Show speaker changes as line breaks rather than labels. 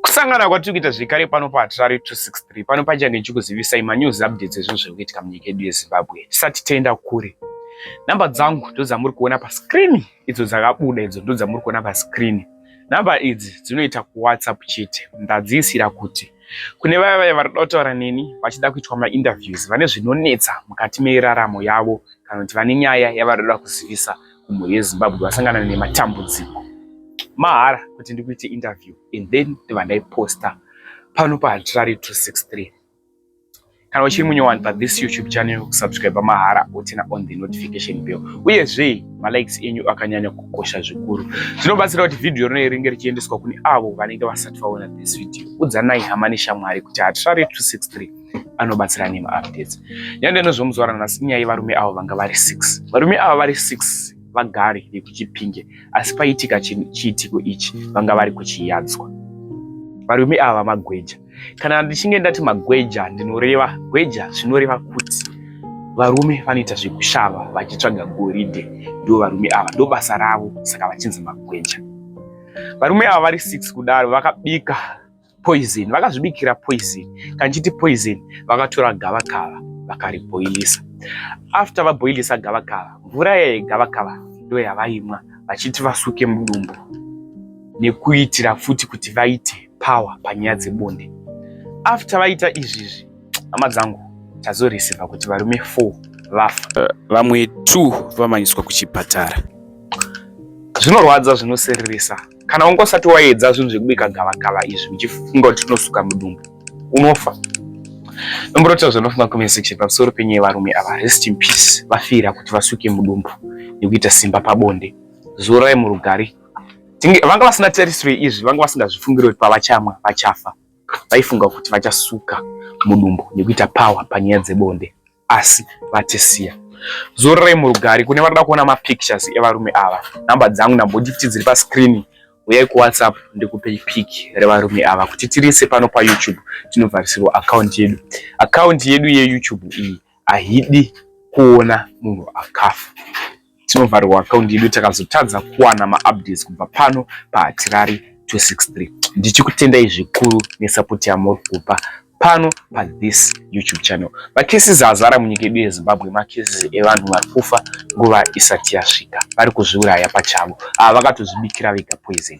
Kusangana kwatiri kuita zvekare pano paHarare 263 pano pachange ndichikuzivisai manews updates ezvinhu zviri kuitika munyika yedu yeZimbabwe tisati tenda kure. Namba dzangu ndodzamuri kuona pascreen idzo dzakabuda idzo ndodzamuri kuona pascreen. Namba idzi dzinoita kuWhatsApp chete ndadziisira kuti kune vaya vaya vari kuda kutaura neni vachida kuitwa mainterviews vane zvinonetsa mukati meraramo yavo kana kuti vane nyaya yavari kuda kuzivisa kumwe yezimbabwe vasangana nematambudziko mahara kuti ndikuite interview and then ndiva ndaiposta pano pahatirari 263 kana uchiri munyowani pathis youtube channel kusubscribe mahara wotina on the notification bell uyezve malikes enyu akanyanya kukosha zvikuru zvinobatsira kuti vhidhiyo rino ringe richiendeswa kune avo vanenge vasati vaona this video udzanai hama neshamwari kuti hatirari 263 anobatsira nemaupdates nyaya ndinozomuzwara nhasi nyaya yevarume avo vanga vari six varume ava vari six vagari vekuchipinge asi paitika chiitiko ichi vanga vari kuchiyadzwa varume ava magweja kana ndichinge ndati magweja ndinoreva gweja zvinoreva kuti varume vanoita zvekushava vachitsvaga goridhe ndo varume ava ndo basa ravo saka vachinzi magweja varume ava vari six kudaro vakabika poison, vakazvibikira poison. Kanjiti poison vakatora gavakava vakariboilisa. After vaboilisa gavakava, mvura yeye gavakava ndiyo yavaimwa vachiti vasuke mudumbu nekuitira futi kuti vaite power panyaya dzebonde. After vaita izvizvi, hama dzangu tazorisiva kuti varume 4 vafa, eh, vamwe 2 vamanyiswa kuchipatara. Zvinorwadza, zvinosereresa. kana wanga usati waedza zvinhu zvekubika gavakava izvi uchifunga kuti tinosuka mudumbu unofa nomborotira zvanofunga comment section pamusoro penyaya varume ava rest in peace vafira kuti vasuke mudumbu nekuita simba pabonde zorai murugari vanga vasina tarisiro izvi vanga vasingazvifungiri kuti pavachamwa vachafa vaifunga kuti vachasuka mudumbu nekuita power panyaya dzebonde asi vatisiya zororai murugari kune vanoda kuona mapictures evarume ava namba dzangu ndamboti kuti dziri pascreen uyai kuwhatsapp ndikupe pic revarume ava kuti tirise pano payoutube tinovharisirwa akaunti yedu akaunti yedu yeyoutube iyi haidi kuona munhu akafa tinovharirwa akaunti yedu takazotadza kuwana maupdates kubva pano pahatirari 263 ndichikutendai zvikuru nesapoti yamuri kupa pano pa this youtube channel macases azara munyika yedu yezimbabwe macases evanhu vari kufa nguva isati yasvika vari kuzviuraya pachavo ava vakatozvibikira vega poison